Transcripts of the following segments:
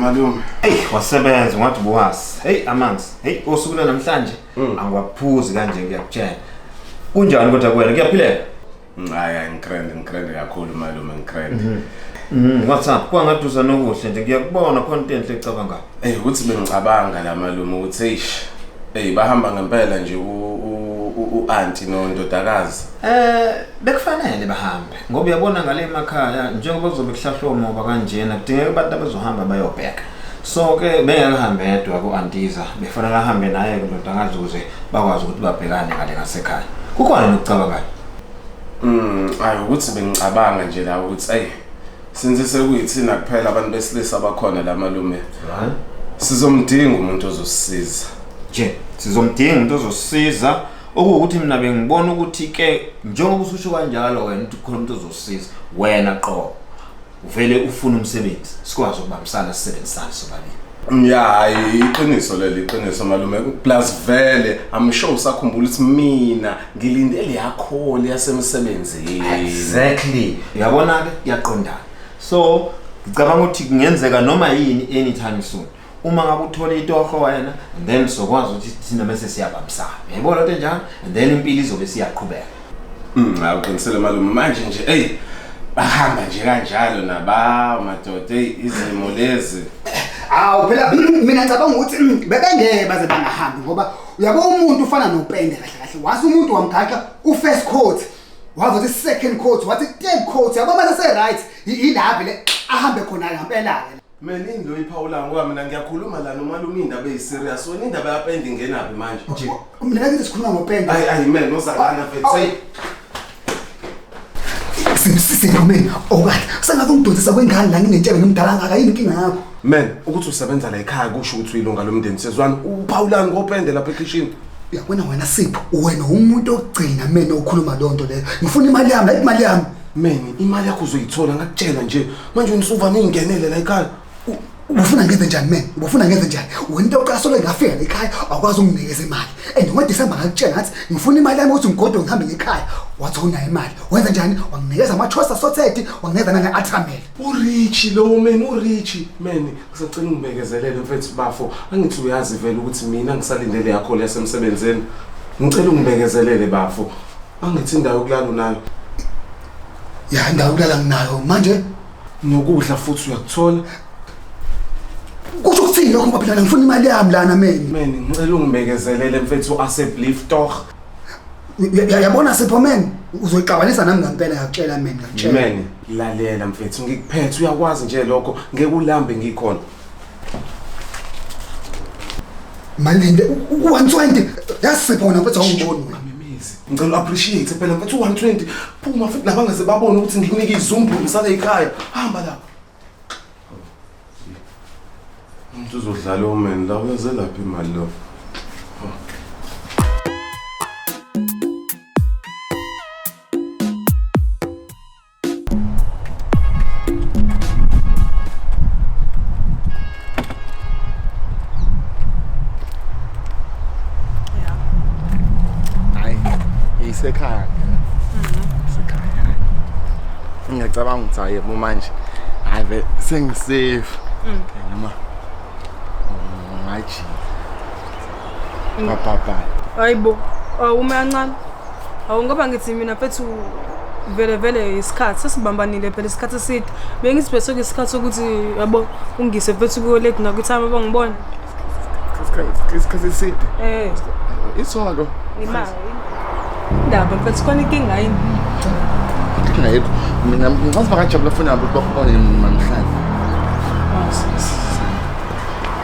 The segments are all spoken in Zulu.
malume eyi wasebenza ungathi ubuwazi heyi amanzi heyi osuku lwanamhlanje Mm. angiwaphuzi kanje ngiyakutshela kunjani kodwa kuwena kuyaphileka Mm, hayi hayi ngikrende ngikrende kakhulu malume ngikrende Mm, what's up kwangaduza nokuhle nje ngiyakubona khona into enhle ecabangayo eyi ukuthi bengicabanga la malume ukuthi eish eyi bahamba ngempela nje u- u- u- u-anti nondodakazi Eh bekufanele bahambe ngoba uyabona ngale emakhaya njengoba kuzobe kuhlahlwa umoba kanjena kudingeka abantu abazohamba bayobheka so ke bengengihambe yedwa ku-antiza befanele ahambe naye ke ndoda angazuze bakwazi ukuthi babhekane ngale ngasekhaya kukhona nokucabangayo Mm, ayi ukuthi bengicabanga nje la ukuthi ayi since sekuyithina kuphela abantu besilisa abakhona la malume right sizomdinga umuntu ozosisiza nje sizomdinga umuntu ozosisiza okuwukuthi mina bengibona ukuthi ke njengoba ususho kanjalo wena ukuthi khona umuntu ozosisiza wena qobo uvele ufuna umsebenzi sikwazi ukubambisana sisebenzisane sobabili ya hayi iqiniso leli iqiniso malume plus vele i'm sure usakhumbula ukuthi mina ngilinde liyakholi yasemsebenzini exactly uyabona-ke yaqondana so ngicabanga ukuthi kungenzeka noma yini anytime soon uma ngabe uthola itoho wena and then sokwazi ukuthi thina bese siyabambisana yayibona lento enjalo and then impilo izobe siyaqhubeka Mm, hawu qinisele malume manje nje eyi bahamba nje kanjalo nabawo madoda eyi izimo lezi Awu phela mina ngicabanga ukuthi mm, bebengeke baze bangahambi ngoba uyabo umuntu ufana nopende kahle kahle. Wathi umuntu wamgaxa u first coat. Wathi uthi second coat, wathi third coat. Yabo mase se right. Yilaphi le ahambe khona ngempela ke. Mina into iphawula ngoba mina ngiyakhuluma la nomalume indaba eyiserious wena indaba yapenda ingenaphi manje nje mina ngakithi sikhuluma ngopenda ayi ayi man nosangana mfethu say simbusise nomeni okade sengathi ungidonsisa kwengane la nginentshebe ngimdala ngaka yini inkinga yakho man ukuthi usebenza la ekhaya kusho ukuthi uyilunga lomndeni sezwani uphawulani ngopende lapha ekhishini uyabona wena sipho wena umuntu ogcina mina okhuluma lonto leyo ngifuna imali yami ayimali yami man imali yakho uzoyithola ngakutshela nje manje unisuva ningingenele la ekhaya ubufuna ngenze njani mina ubufuna ngenze njani wena into yokuqala solo ngafika ekhaya awukwazi unginikeza imali and ngoDecember ngakutshela ngathi ngifuna imali yami ukuthi ngigodo ngihambe ngekhaya wathi unayo imali wenza njani wanginikeza ama-chosa sothethi wanginikeza nange-atramel urichi lowo meni urichi meni ngisacela ungibekezelele mfethu bafo angithi uyazi vele ukuthi mina ngisalindele yakho leyasemsebenzini ngicela ungibekezelele bafo Angithi indawo yokulala unayo? Ya indawo yokulala nginayo manje nokudla futhi uyakuthola. Kusho ukuthini lokho baphilana ngifuna imali yami lana mina. Mina ngicela ungibekezelele mfethu aseblief toch. Yabona Sipho men uzoyixabanisa nami ngempela yakutshela mina ngakutshela. Mina lalela mfethu ngikuphethe uyakwazi nje lokho ngeke ulambe ngikhona. Malinde u-120 yasipha wena mfethu awungiboni wena. Ngicela u-appreciate phela mfethu u-120 phuma futhi laba ngase babone ukuthi ngikunike izumbu ngisale ekhaya. Hamba lapha. Umuntu uzodlala omeni la uyaze laphi imali lo. hayi isekhaya isekhaya ngiyacabanga ukuthi hayi yebo manje hayi ve sengisafe noma ngajika ngabhabha hayibo awume kancane awu ngoba ngithi mina fethu vele vele isikhathi sesibambanile phela isikhathi eside bengisibheseke isikhathi sokuthi yabo ungise fethu kuyo late nakwithama bangibona Isikhathi- isikhathi eside eh isonto imali indaba mfethu khona inkinga yini inkinga yethu mina ngicabanga ngajabula funa ukuthi bakubone namhlanje Ah, s- s-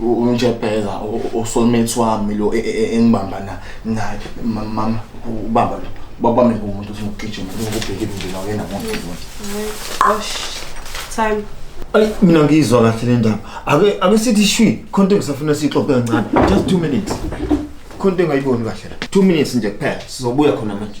unjebheza usoulmate wami lo e, e, e, engibamba naye mama ubaba lo babami ngumuntu ufuna ukugijima ngokubheka indlela yena muntu osh time Ay mina ngizwa kahle le ndaba. Ake ake sithi shwi khonto ngisafuna sixoxe kancane. Just 2 minutes. Khonto engayiboni kahle la. 2 minutes nje kuphela sizobuya khona manje.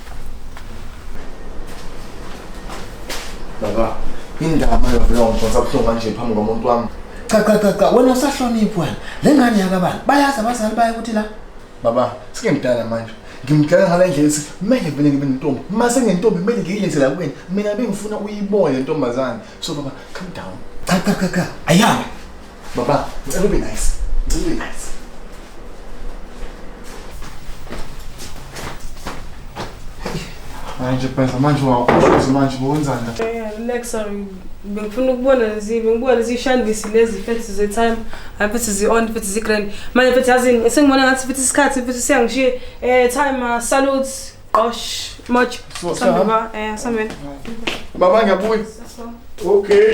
Baba, indaba yovulongo mfana sabuhlungu kanje phambi komuntu wami. Cha cha cha cha wena usahloniphi wena. Le ngane yakabani? Bayazi abazali bayo ukuthi la. Baba, sike ngidala manje. Ngimdala ngale ndlela ethi kumele vele ngibe nentombi. Uma sengentombi kumele ngiyilethe la kuwena. Mina bengifuna uyibone le ntombazane. So baba, calm down. Cha cha cha cha. Ayame. Baba, ngicela ube nice. Ngicela ube nice. Manje phela manje wawuqoqoza manje wenzani la? Eh, relax sorry. Bengifuna ukubona lezi, bengibona lezi shandisi lezi fethi ze time, hayi fethi zi on, fethi zi grand. Manje fethi yazini, sengibona ngathi fethi isikhathi, fethi siyangishiye. Eh, time uh, salutes, qosh, much. So, Sambe sahamba. ba, eh, sambe. Baba ngiyabuya. Okay.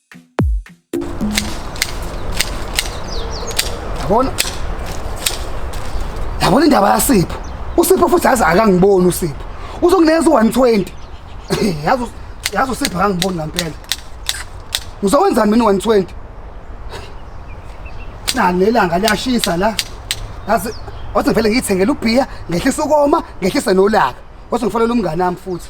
Yabona? Yabona indaba yaSipho. USipho futhi yazi akangiboni uSipho. Uzongineza u-120. Yazi yazi uSipho akangiboni ngampela. Ngizowenzani mina u-120? Na lelanga liyashisa la. Yazi wathi ngivele ngiyithengele ubhiya, ngehlisa ukoma, ngehlise nolaka. Wathi ngifonela umngane wami futhi.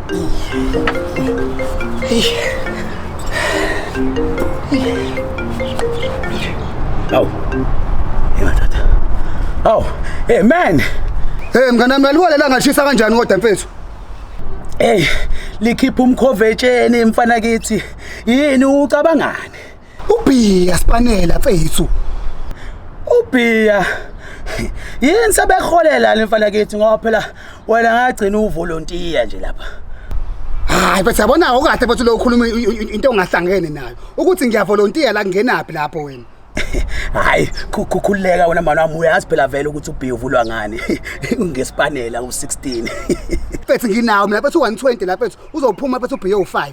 Awu. Ingathatha. Awu, hey man. Eh mngane wami yaliwa lelanga lishisa kanjani kodwa mfethu? Hey, likhipha umkhovetsheni mfana kithi. Yini ucabangani? Ubhiya sipanela mfethu. Ubhiya yini sebeholela le mfana kithi ngoba phela wena ngagcina uvolontiya nje lapha. Hayi bese yabona okahle bese lo ukhuluma into ongahlangene nayo ukuthi ngiyavolontiya la ngenaphi lapho wena. hayi khukhuleka wena mani wami uyazi phela vele ukuthi ubhiya uvulwa ngani ngesipanela u-16 mfethu nginawo mina mfethu u-120 la mfethu uzophuma mfethu ubhiya u-5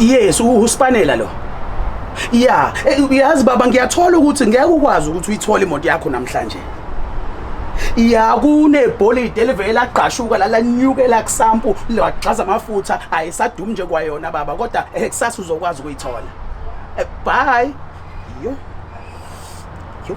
Yes, uSpanela lo. Yeah, uyazi baba ngiyathola ukuthi ngeke ukwazi ukuthi uyithole imoto yakho namhlanje. ya kunebholidi elivele lagqashuka lalanyukela kusampu lagxaza amafutha ayisadumi nje kwayona baba kodwa eh, kusasa uzokwazi ukuyithola eh, bye yo yo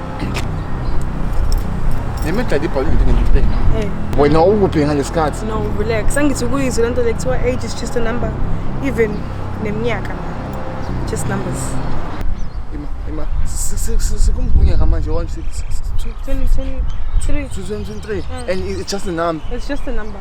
nemedlala ibhola into ngimpeni Eh, wena ukuphi ngalesikhathi no, relax. Angithi ukuyizwa lento le kuthiwa age is just a number. Even neminyaka. Just numbers. ima ima si- si- si- sikumbunyaka manje wanje 20, 20, 23. 23 and it's just a number It's just a number.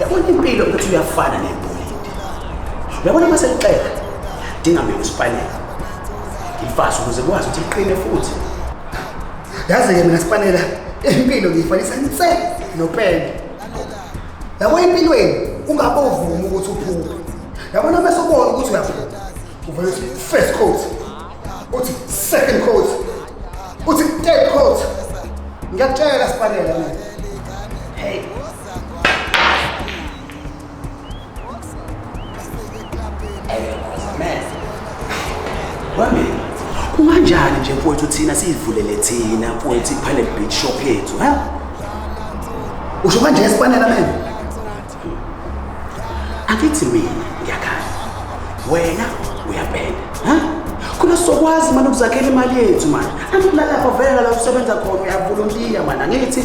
yabona impilo ukuthi uyafana nebholidi uyabona uma selixeka dinga mina usipanela ngifase ukuze kwazi ukuthi liqine futhi yazi-ke mina sipanela impilo ngiyifanisa nse nopende yabo empilweni ungabovumi ukuthi uphuphe yabona uma sobona ukuthi uyaphupha uvele uthi first coat uthi second coat uthi third coat ngiyakutshela sipanela mina kunganjani nje mfowethu thina siyivulele thina mfowethu iphane beach shop yethu ha usho kanje esipanela mina angithi mina ngiyakhala wena uyabhenda ha khona sokwazi mani ukuzakhela imali yethu mani angilalapho vele la usebenza khona uyavolontiya mani angithi